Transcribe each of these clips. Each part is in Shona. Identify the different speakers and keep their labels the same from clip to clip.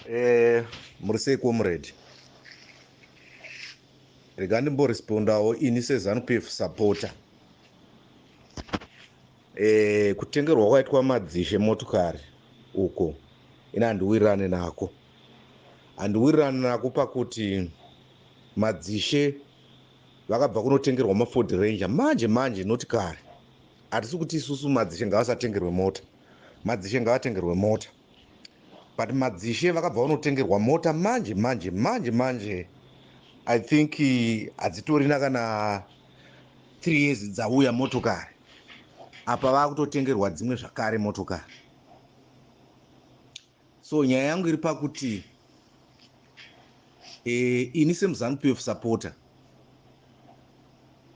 Speaker 1: Eh, muri sei comrade rega ndimborespondawo ini sezanupf supporter eh, kutengerwa kwaitwa madzishe motokari uko ini handiwirirane nako handiwirirane nako pakuti madzishe vakabva kunotengerwa maford ranger manje manje noti kare hatisi kuti isusu madzishe ngavasatengerwe mota madzishe ngavatengerwe mota but madzishe vakabva vanotengerwa mota manje manje manje manje i think hadzitorina kana three years dzauya motokari apa vakutotengerwa dzimwe zvakare motokari so nyaya yangu iri pakuti eh, ini semuzanu pf supporter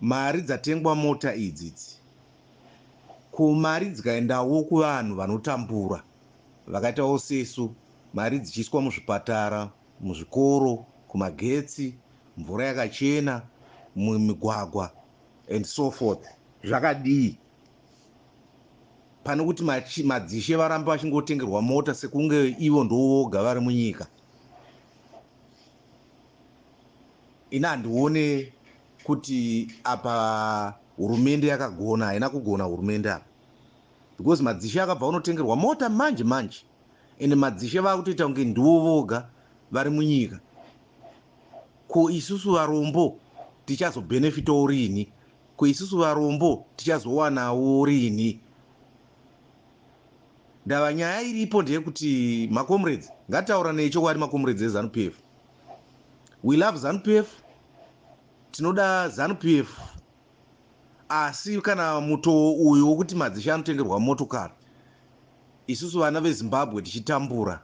Speaker 1: mari dzatengwa mota idzi idzi ko mari dzikaendawo kuvanhu vanotambura vakaitawo sesu mari dzichiiswa muzvipatara muzvikoro kumagetsi mvura yakachena mumigwagwa and so forth zvakadii pane kuti madzishe varambe vachingotengerwa mota sekunge ivo ndovoga vari munyika ini handione kuti apa hurumende yakagona haina kugona hurumende apa because madzishe akabva unotengerwa mota manje manje ende madzishe vakutoita kunge ndiwo voga vari munyika ko isusu varombo tichazobhenefitawo rini Ko isusu varombo tichazowanawo rinhi? Ndava nyaya iripo ndeyekuti macomrades ngatitauranei chokwadi macomrades ezanu p f we love zanu p f tinoda zanu p f asi kana mutoo uyu wokuti madzishe anotengerwa motokari isusu vana vezimbabwe tichitambura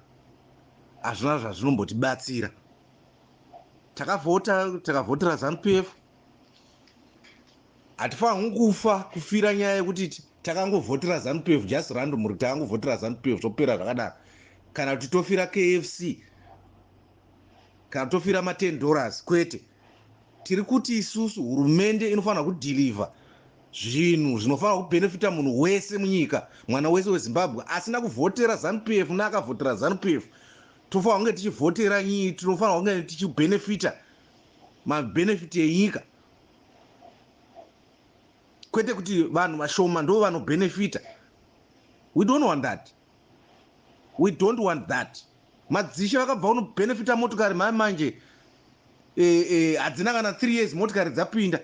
Speaker 1: hazvina zvazvinombotibatsira takavhota takavhotera zanu p f hatifanirwi kufa kufira nyaya yekuti takangovhotera zanu 12 just random ri takangovhotera zanu 12 zvopera zvakadaro kana kuti tofira kfc kana tofira ma10 dollars kwete tiri kuti isusu hurumende inofanira kudhilivha zvinhu zvinofanira kubhenefita munhu wese munyika mwana wese wezimbabwe asina kuvhotera zanu p f neakavhotera zanu p f tofanira kunge tichivhotera nyii tinofanira kunge tichibhenefita mabenefit enyika kwete kuti vanhu vashoma ndo vanobenefita we don't want that we don't want that madzishe vakabva unobenefita motokari mai manje eh, eh, hadzina kana three years motokari dzapinda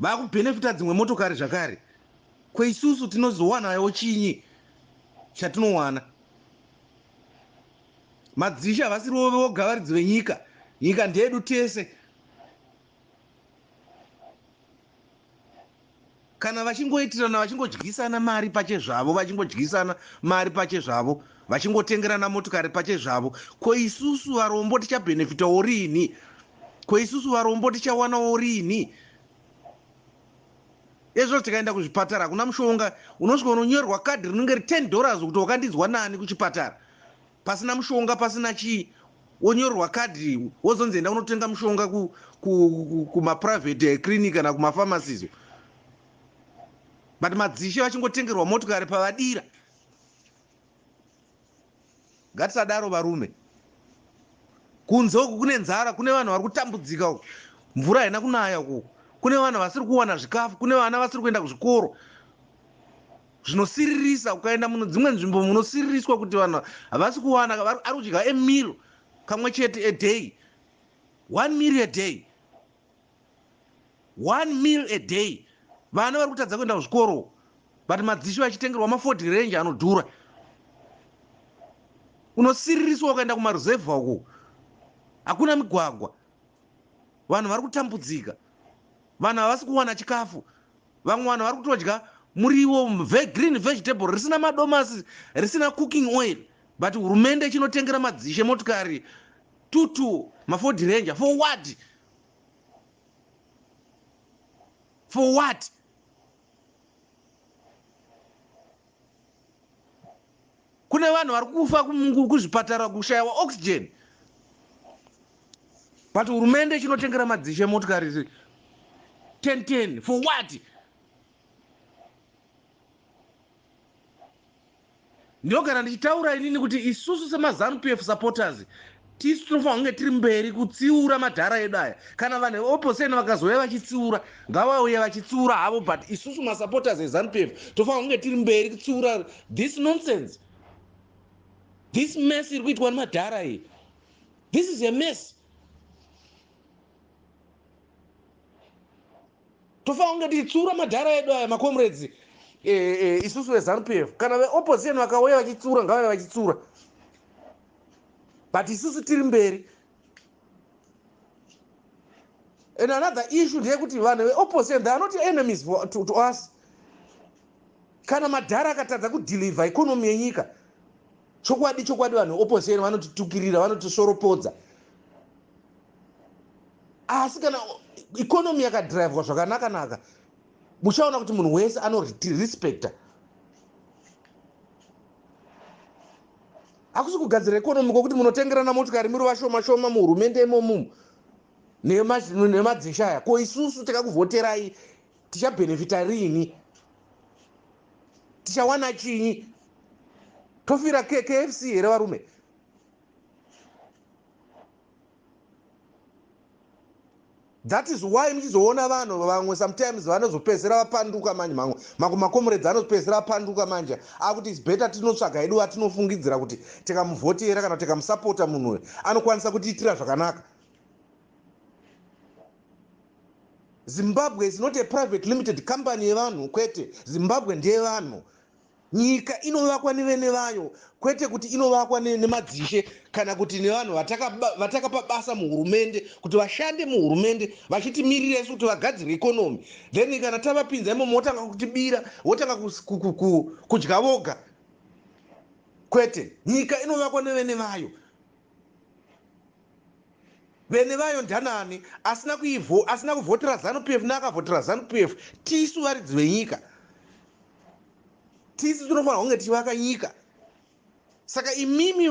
Speaker 1: vakubenefita dzimwe motokari zvakare kweisusu tinozowanayo chinyi chatinowana Madzishe havasiriwo voga varidzi venyika. Nyika ndeyedu tese. Kana vachingoitirana vachingodyisana mari pachezvavo, vachingodyisana mari pachezvavo, vachingotengerana motikari pachezvavo, ko isusu varombo tichabhenefitawo riini? Ko isusu varombo tichawanawo riini? Ezvo tikaenda kuzvipatara hakuna mushonga, unosvika unonyorerwa kadhi rinenge ri 10 dollars kuti wakandinzwa nani kuchipatara pasina mushonga pasina chii wonyorerwa kadhi wozonzi enda unotenga mushonga kumaprivate clinic kana kumafamasizo but madzishe vachingotengerwa motikari pavadira Ngatisadaro varume. Kunze uku kune nzara, kune vanhu vari kutambudzika uku. Mvura haina kunaya uku. Kune vanhu vasiri kuwana zvikafu, kune vana vasiri kuenda kuzvikoro. Zvinosiririsa ukaenda muno dzimwe nzvimbo munosiririswa kuti vanhu havasi kuwana ari kudya emiro kamwe chete a day. One meal a day. one meal a day vana vari kutadza kuenda kuzvikoro but madzishe vachitengerwa maford range anodhura unosiririswa ukaenda kumaruzevha uku hakuna migwagwa vanhu vari kutambudzika vanhu havasi kuwana chikafu vamwe vanhu vari kutodya muriwo green vegetable risina madomasi risina cooking oil but hurumende chinotengera madzishe motikari tutu maford ranger for what for what kune vanhu vari kufa kuzvipatara kushayiwa oxygen but hurumende chinotengera madzishe motikari 1010 for what Ndinogara ndichitaura inini kuti isusu semaZanu PF supporters tisu tinofanira kunge tiri mberi kutsiura madhara edu aya kana vanhu veopposition vakazouya vachitsiura ngavauye vachitsiura havo but isusu masupporters eZanu PF tofanira kunge tiri mberi kutsiura this nonsense this mess iri kuitwa nemadhara iyi this is a mess tofanira kunge tichitsiura madhara edu aya macomrades eh, eh, isusu vezanup f kana veopposition vakauya vachitsiura ngavave vachitsiura but isusu tiri mberi and another issue ndeyekuti vanhu veopposition they are not enemies for, to, to us kana madhara akatadza kudeliver economy yenyika chokwadi chokwadi vanhu veopposition vanotitukirira vanotisoropodza asi kana economy yakadrivwa zvakanaka naka muchaona kuti munhu wese anorespecta hakusi kugadzira economy kwokuti munotengerana motikari muri vashoma shoma muhurumende imomumu nemadzisha aya ko isusu takakuvhoterai tichabhenefita riini tichawana chinyi tofira kfc here varume that is why muchizoona vanhu vamwe sometimes vanozopedzisira vapanduka manje mamwe mamwe makomuredzi anozopedzisira apanduka manje akuti is better tinotsvaga hedu vatinofungidzira kuti tikamuvhotera kana tikamusapota munhu uyo anokwanisa kutiitira zvakanaka zimbabwe is not a private limited company yevanhu kwete zimbabwe ndeyevanhu nyika inovakwa nevene vayo kwete kuti inovakwa nemadzishe kana kuti nevanhu vatakapa basa muhurumende kuti vashande muhurumende vachitimirira isu kuti vagadzire ikonomi then kana tavapinza imomo wotanga kutibira wotanga kudya voga kwete nyika inovakwa nevene vayo vene vayo ndanani asina kuivo asina kuvhotera zanu pf neakavhotera zanu pf tisu varidzi venyika tisu tinofanira kunge tichivaka nyika saka imimi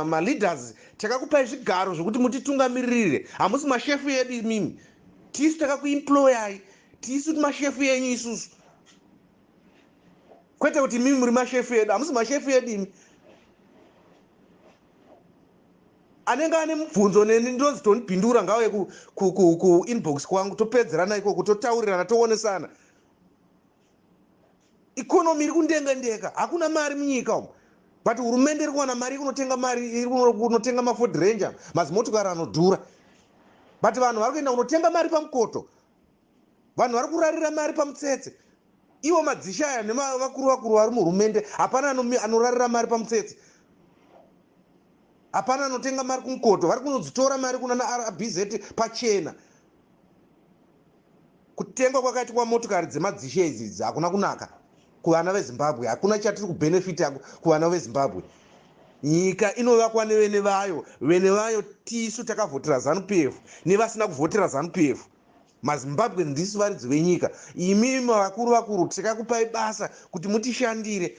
Speaker 1: maleaders takakupai zvigaro zvekuti mutitungamiririre hamusi mashefu edu imimi tisu takakuimployai tisu mashefu enyu isusu kwete kuti imimi muri mashefu edu hamusi mashefu edu imi anenge ane mubvunzo neni ndinonzi tonipindura ngauye kuinbox kwangu topedzerana ikoko totaurirana toonesana ikonomi iri kundengendeka hakuna mari munyika umu but hurumende iri kuwana mari ikunotenga mari irikunotenga maford ranger mazimotokari anodhura but vanhu vari kuenda kunotenga mari pamukoto vanhu vari kurarira mari pamutsetse ivo madzishe aya nevakuru vakuru vari muhurumende hapana anorarira mari pamutsetse hapana anotenga mari kumukoto vari kunodzitora mari kuna narbz pachena kutengwa kwakaitwa motokari dzemadzishe idzi idzi hakuna kunaka kuvana vezimbabwe hakuna chatiri kubhenefiti kuvana vezimbabwe nyika inovakwa nevene vayo vene vayo tisu takavhotera zanupf nevasina kuvhotera zanupf mazimbabwe ndisu varidzi venyika imi vakuru vakuru tikakupai basa kuti mutishandire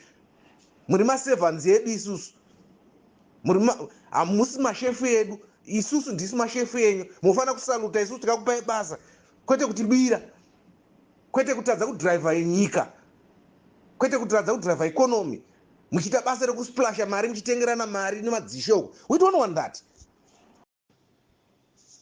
Speaker 1: muri maservants edu isusu hamusi mashefu edu isusu ndisu mashefu enyu munofanira kusaluta isusu tikakupai basa kwete kutibira kwete kutadza kudriver yenyika kwete kutadza kudriver economy muchiita basa rekusplasha mari muchitengerana mari nemadzishe uku we don't want that